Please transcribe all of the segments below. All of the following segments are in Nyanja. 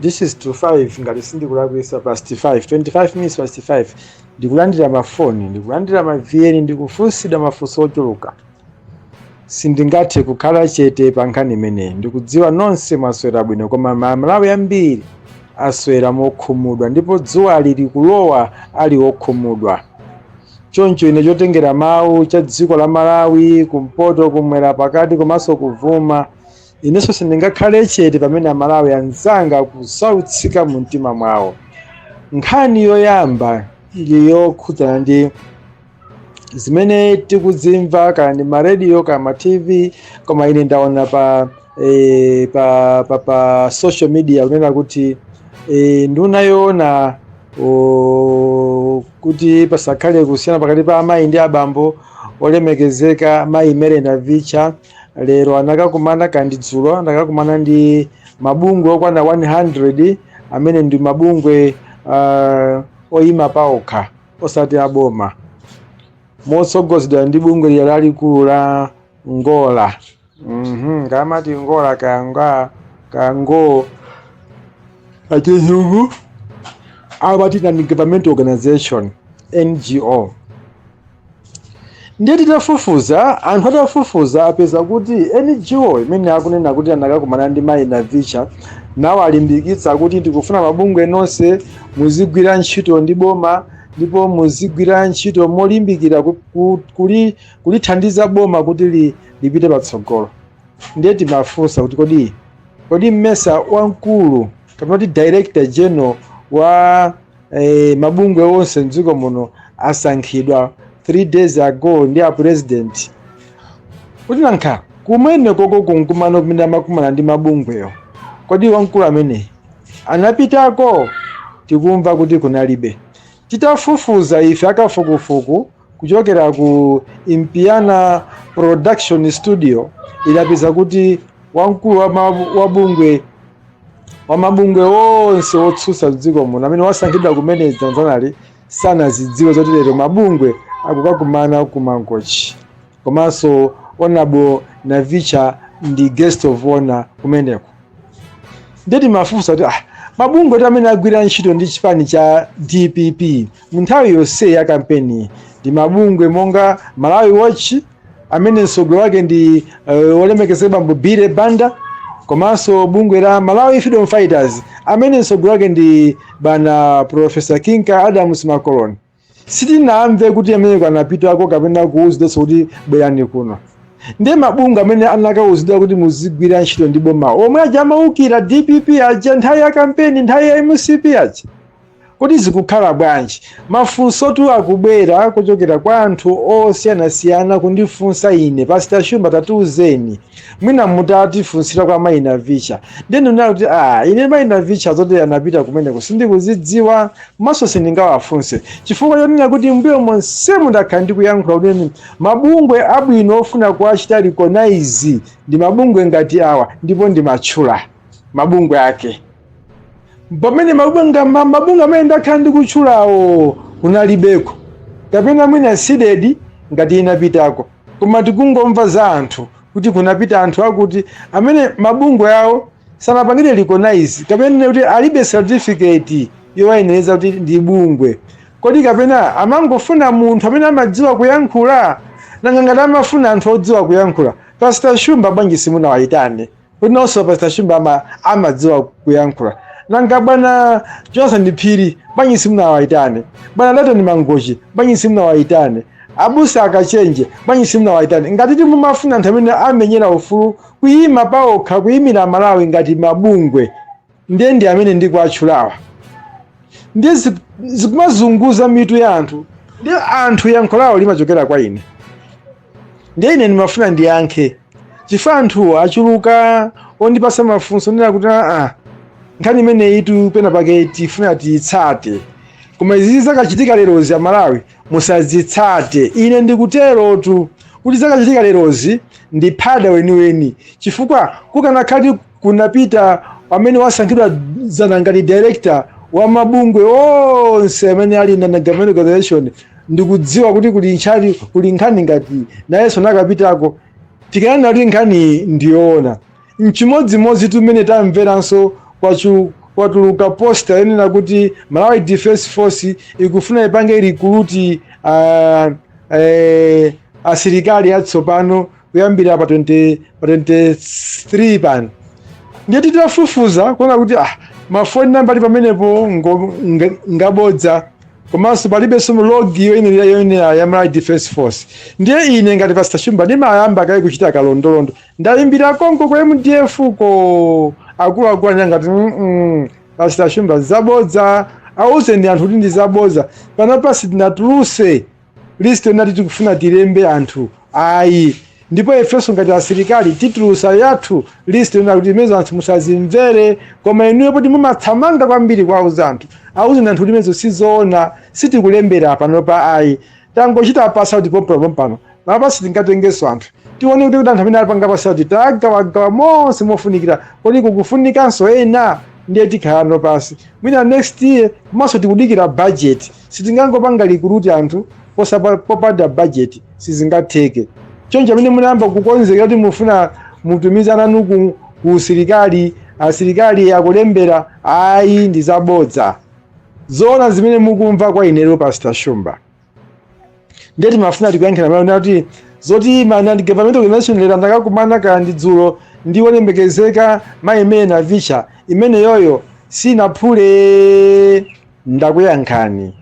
this is 25 ngati sindikulakwisa past 5 25 minutes past 5 ndikulandira mafoni ndikulandira mavn ndikufunsidwa mafunso ochuluka sindingathe kukhala chete pa nkhani imeneyi ndikudziwa nonse mwaswera bwino koma amalawi ambiri aswera mokhumudwa ndipo dzuwa lili kulowa ali okhumudwa choncho ine chotengera mawu cha dziko la malawi kumpoto kumwera pakati komanso kummawa inenso sindingakhale chete pamene amalawi anzanga akusautsika mu mtima mwawo nkhani yoyamba ili yokhudzana ndi zimene tikudzimva kaya ndi marediyo kaya ma tv koma ine ndaona pa eh, pa, pa, pa social media kunena kuti eh, nduna yoona o, kuti pasakhale kusiyana pakati pa amayi ndi abambo olemekezeka mayi mary navicha lero anakakumana kaya ndi dzulo anakakumana ndi mabungwe okwana 100 amene ndi mabungwe uh, oyima paokha osati aboma motsogozedwa ndi bungwe lija lalikulu la ngola mm ngamati ngola kaya kango achizungu amati non government organization ngo Ndiye titafufuza, anthu atafufuza apeza kuti NGO imene akunena kuti anakakumana ndi mayi Navicha nawalimbikitsa kuti tikufuna mabungwe nonse muzigwira ntchito ndi boma ndipo muzigwira ntchito molimbikira ku- ku- kuli- kulithandiza boma kuti li- lipite patsogolo. Ndiye timafunsa kuti kodi kodi mmesa wamkulu kapena kuti director general wa eh, mabungwe onse mdziko muno asankhidwa 3 days ago ndi a president kuti nankha kumene koko kumkumano kumene amakumana ndi mabungweyo kodi wamkulu ameneyu anapitako tikumva kuti kunalibe titafufuza ife akafukufuku kuchokera ku Impiana Production Studio idapeza kuti wamkulu wa ma- wa bungwe wa mabungwe onse otsutsa mdziko muno amene wasankhidwa kumene dzanadzanali sanazidziwe zoti lero mabungwe akukakumana ku mangochi komanso honorable navicha ndi guest of honor kumeneko ndiye timafunsa kuti ah, mabungwe ti amene agwira ntchito ndi chipani cha dpp mu nthawi yonse ya kampeni ndi mabungwe monga malawi watch amene mtsogoleri wake ndi uh, olemekezeka bambo billy banda komanso bungwe la malawi freedom fighters amene mtsogoleri wake ndi bwana profesa kinka adams makoloni sitinamve kuti ameneko anapitako kapena kuwuzidwanso kuti bwerani kuno ndiye mabungwe amene anakawuzidwa kuti muzigwira ntchito ndi boma omwe aja amawukira dpp aja nthawi ya kampeni nthawi ya mcp aja kuti zikukhala bwanji mafunso tu akubwera kuchokera kwa anthu osiyanasiyana kundifunsa ine Pastor Shumba tatiuzeni mwina mutatifunsira kwa mayi navicha ndiye ndinena kuti a ine mayi navicha zoti anapita kumeneko sindikuzidziwa komanso sindingawafunse chifukwa chonena kuti mbuyo monsemu ndakhala ndikuyankhula kuti mabungwe abwino ofuna kuwachita recognize ndi mabungwe ngati awa ndipo ndimatchula mabungwe ake pamene mabungwe amene ndakhala ndikutchulawo kunalibeko kapena mwina sidedi ngati inapitako koma tikungomva za anthu kuti kunapita anthu akuti amene mabungwe awo sanapangire recognize kapena kuti alibe certificate yowayenereza kuti ndi bungwe kodi kapena amangofuna munthu amene amadziwa kuyankhula nanga ngati amafuna anthu odziwa kuyankhula pastor shumba bwanji simunawayitane Kuti nanso Pastor Shumba ama, amadziwa kuyankhula. Nanga bwana Johnson Phiri bwanji simunawaitane? Bwana Laitoni Mangochi bwanji simunawaitane? Abusa akachenje bwanji simunawaitane? Ngati ti mumafuna anthu amene amamenyera ufulu kuyima pawokha kuyimira Malawi ngati mabungwe ndiye ndi amene ndikuwatchulawa ndiye zi- zikumazunguza mitu ya anthu ndiye anthu yankho lawo limachokera kwa ine ndiye ine ndimafuna ndiyankhe chifukwa anthuwo achuluka ondipasa mafunso kunena kuti aa nkhani imeneyi tu pena pake tifuna tiyitsate koma izi zakachitika lerozi amalawi musazitsate ine ndikuterotu kuti zakachitika lerozi ndi phada weniweni chifukwa kukanakhala kuti kunapita amene wasankhidwa dzana ngati director wa mabungwe onse amene ali non government organization ndikudziwa kuti kuli nchali kuli nkhani ngati nayenso anakapitako tikananena kuti nkhani ndiyoona Nchimodzimodzitu mmene tamveranso kwatuluka poster yonena kuti Malawi Defence Force ikufuna ipange recruit ah, eh, asilikali atsopano kuyambira pa 20 pa 23 pano ndiye titafufuza kuona kuti ah, mafoni namba ali pamenepo ngo- nga- ngabodza komanso palibenso logo yoyenera yoyenera ya Malawi Defence Force ndiye ine ngati Pastor Shumba ndimayamba kaye kuchita kalondolondo Ndaimbira konko ku mdf ko akuluakulu aja ngati mm, pastor shumba zabodza auzeni anthu kuti ndi zabodza panopa sitinatuluse list yonati tikufuna tilembe anthu ayi ndipo ifenso ngati asilikali titulusa yathu list yonena kuti imenezo anthu musazimvere koma inuyo poti mumathamanga kwambiri kuwauza anthu auzeni anthu kuti imenezo sizoona sitikulembera panopa ayi tangochita pass out pompano pompano apa sitingatengenso anthu tione kuti kuti anthu amene apanga pass out tagawagawa monse mofunikira kodi kukufunikanso ena ndiye tikhalanso pansi mwina next year komanso tikudikira budget sitingangopanga recruit anthu posapa- popanda budget sizingatheke choncho amene munayamba kukonzekera kuti mufuna mutumize ananu ku, ku usilikali asilikali akulembela ayi ndi zabodza zoona zimene mukumva kwa inero pastor shumba ndiye timafuna tikuyankhira mawu nati zoti ma non government organization lero ndakakumana kaya ndi dzulo ndi wolemekezeka mayi mary navicha imene yoyo sinaphule ndakuyankhani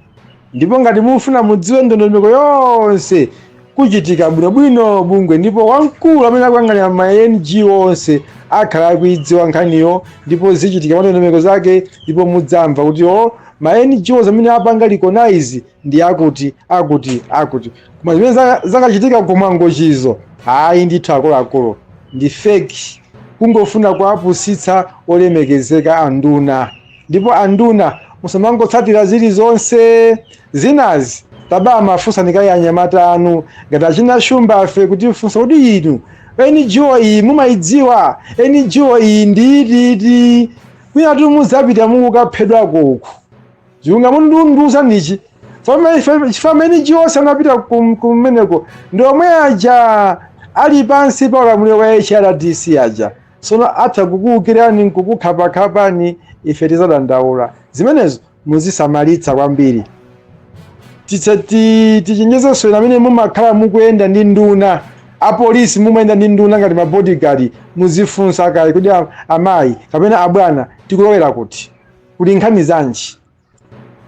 ndipo ngati mufuna mudziwe ndondomeko yonse kuchitika bwinobwino bungwe ndipo wamkulu amene akuyang'anira ma NGO onse akhala akuidziwa nkhaniyo ndipo zichitika mandondomeko zake ndipo mudzamva kuti o ma NGOs amene apanga recognize ndi akuti akuti akuti koma zimene za- zakachitika kumwangochizo ayi ndithu akuluakulu ndi fake kungofuna kuwapusitsa olemekezeka anduna ndipo anduna musamangotsatira zilizonse zinazi tabamafunsani kaye anyamata anu ngati achina shumbafe kutifunsa kuti inu ngo iyi mumayidziwa ngo iyi ndi iti iti kwinatu mudzapita mukaphedwako uku ziunga mundiuza nichi chifukwa ma NGOs anapita kum- kumeneko ndi omwe aja ali pansi pa ulamuliro wa hrdc aja Tsono atha kukuwukirani n'kukukhapakhapani, ife tidzadandaula. Zimenezo muzisamalitsa kwambiri. Titse- ti- Tichenjezenso inu amene mumakhala mukuyenda ndi nduna, apolisi mumayenda ndi nduna ngati ma bodyguard, muzifunsa kaye kuti a- amayi kapena abwana tikulowera kuti? Kuli nkhani zanji?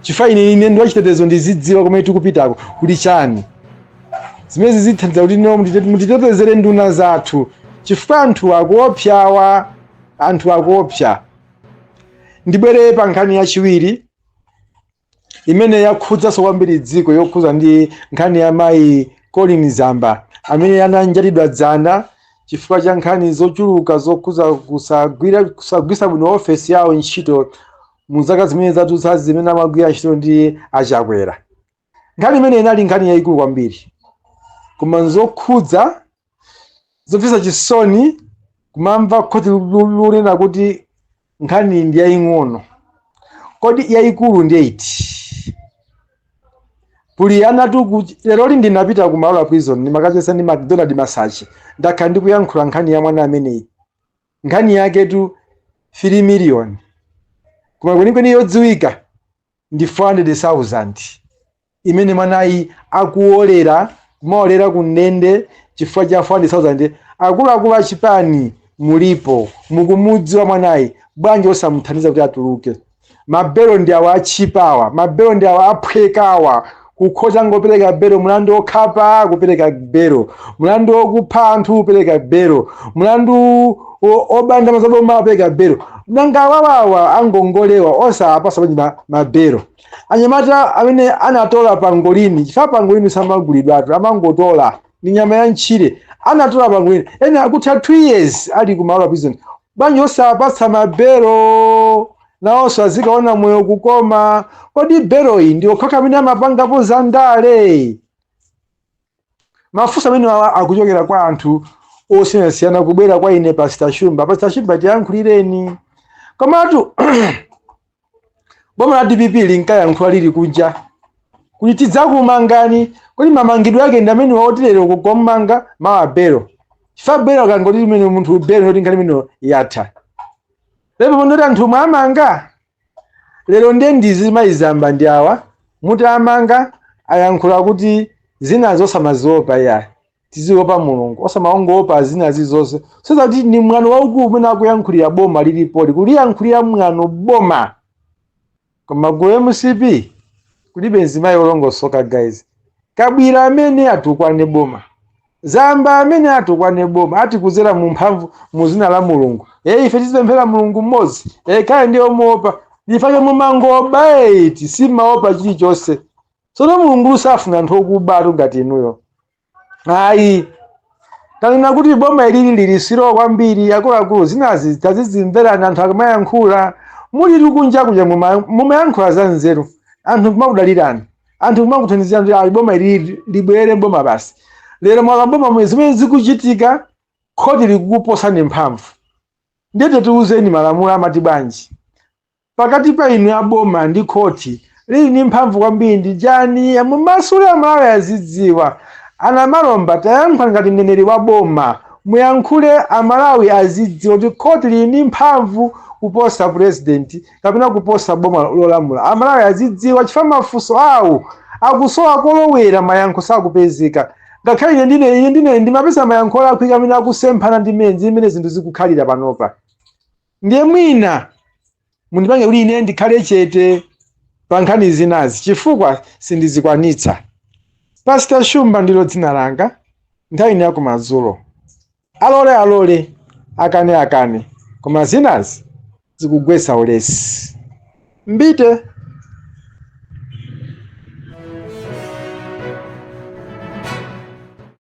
chifukwa ine ine ndi wachitetezo ndizidziwa kumene tikupitako kuli chani zimenezi zithandiza kuti no mutite- mutitetezere nduna zathu chifukwa anthu akuopsawa anthu akuopsa ndibwere pa nkhani yachiwiri imene yakhudzanso kwambiri dziko yokhudza ndi nkhani ya mayi colleen zamba amene ananjatidwa dzana chifukwa cha nkhani zochuluka zokhudza kusagwira kusagwisa bwino ofesi yawo ntchito mu zaka zimene zadutsazi zimene amagwira ntchito ndi achakwera nkhani imene inali nkhani yayikulu kwambiri koma nzokhudza zomvetsa chisoni kumamva khoti lunena kuti nkhani ndi yaying'ono kodi yayikulu ndi iti kuli anatu ku- lero li ndinapita ku maula prison ndimakacheza ndi macdonald masache ndakhala ndikuyankhula nkhani ya mwana ameneyi nkhani yaketu 3 million koma kwenikweni yodziwika ndi 400,000 imene mwanayi akuolera kumaolera ku ndende chifukwa cha 400,000 akuluakulu achipani mulipo mukumudziwa mwanayi bwanji osamuthandiza kuti atuluke mabelo ndi awa atchipa awa mabelo ndi awa aphweka awa kukhoza kungopereka belo mlandu wokhapa kupereka belo mlandu wokupha anthu kupereka belo mlandu o- oba ndalama za boma kupereka belo nanga awawawa angongole awa osapasa bwanji ma- mabelo anyamata amene anatola pangolini chifukwa pangolini samagulidwatu amangotola ndi nyama ya mtchire anatola pangolini ena akutha 2 years ali ku maula prison bwanji osapatsa mabelo nawonso azikaona moyo kukoma kodi beloyi ndi okhaokha amene amapangapo za ndale mafunso amene awa akuchokera kwa anthu osiyanasiyana kubwera kwa ine pasita shumba pasita shumba tiyankhulireni komatu boma la dpp linkayankhula lili kunja kuti tidzakumangani kodi mamangidwe ake ndi amenewa oti lero kukammanga mawa belo chifukwa belo akangoti limene munthu belo kuti nkhani imene yatha lero pondoti anthu omwe amanga lero ndiye ndi azimayi zamba ndi awa muti amanga ayankhula kuti zinazo osamaziopa iyayi tiziopa mulungu osamangoopa zinazi zonse soza kuti ni mwano waukulu umene akuyankhulira boma lilipoli kuliyankhulira mwano boma koma ku mcp kulibe nzimayi olongosoka guys kabwila amene atukwane boma zamba amene atukwane boma ati kuzera mu mphamvu mu zina la mulungu e ife tizipemphera mulungu mmodzi e kaya ndiye omuopa nchifukwa chake mumangoba eti simaopa chilichonse tsono mulungulu safuna anthu okubatu ngati inuyo ayi tanena kuti boma ilili lili slow kwambiri akuluakulu zinazi tazizimverani anthu akamayankhula muli likunja kuja muma- mumayankhula za nzeru anthu kumakudalirani anthu kumakuthandizirani kuti ayi boma ilili libwere boma basi lero mwakaboma mwe zimene zikuchitika khoti likukuposani mphamvu ndiye tatiuzeni malamulo amati bwanji pakati pa inu aboma ndi khoti lili ndi mphamvu kwambiri ndi ndani mumasule amalawi azidziwa a Namalomba tayankhula ngati mneneri wa boma muyankhule amalawi azidziwa kuti khoti lili ndi mphamvu kuposa president kapena kuposa boma lolamula amalawi azidziwa chifukwa mafunso awo akusowa kolowera mayankho sakupezeka ngakhale ine ndine ndimapeza mayankho olakwika amene akusemphana ndi mmene zinthu zikukhalira panopa ndiye mwina mundipange kuti ine ndikhale chete pa nkhani zinazi chifukwa sindizikwanitsa pastor shumba ndilo dzina langa nthawi ino yakumadzulo alole alole akane akane koma zinazi zikugwetsa ulesi mbite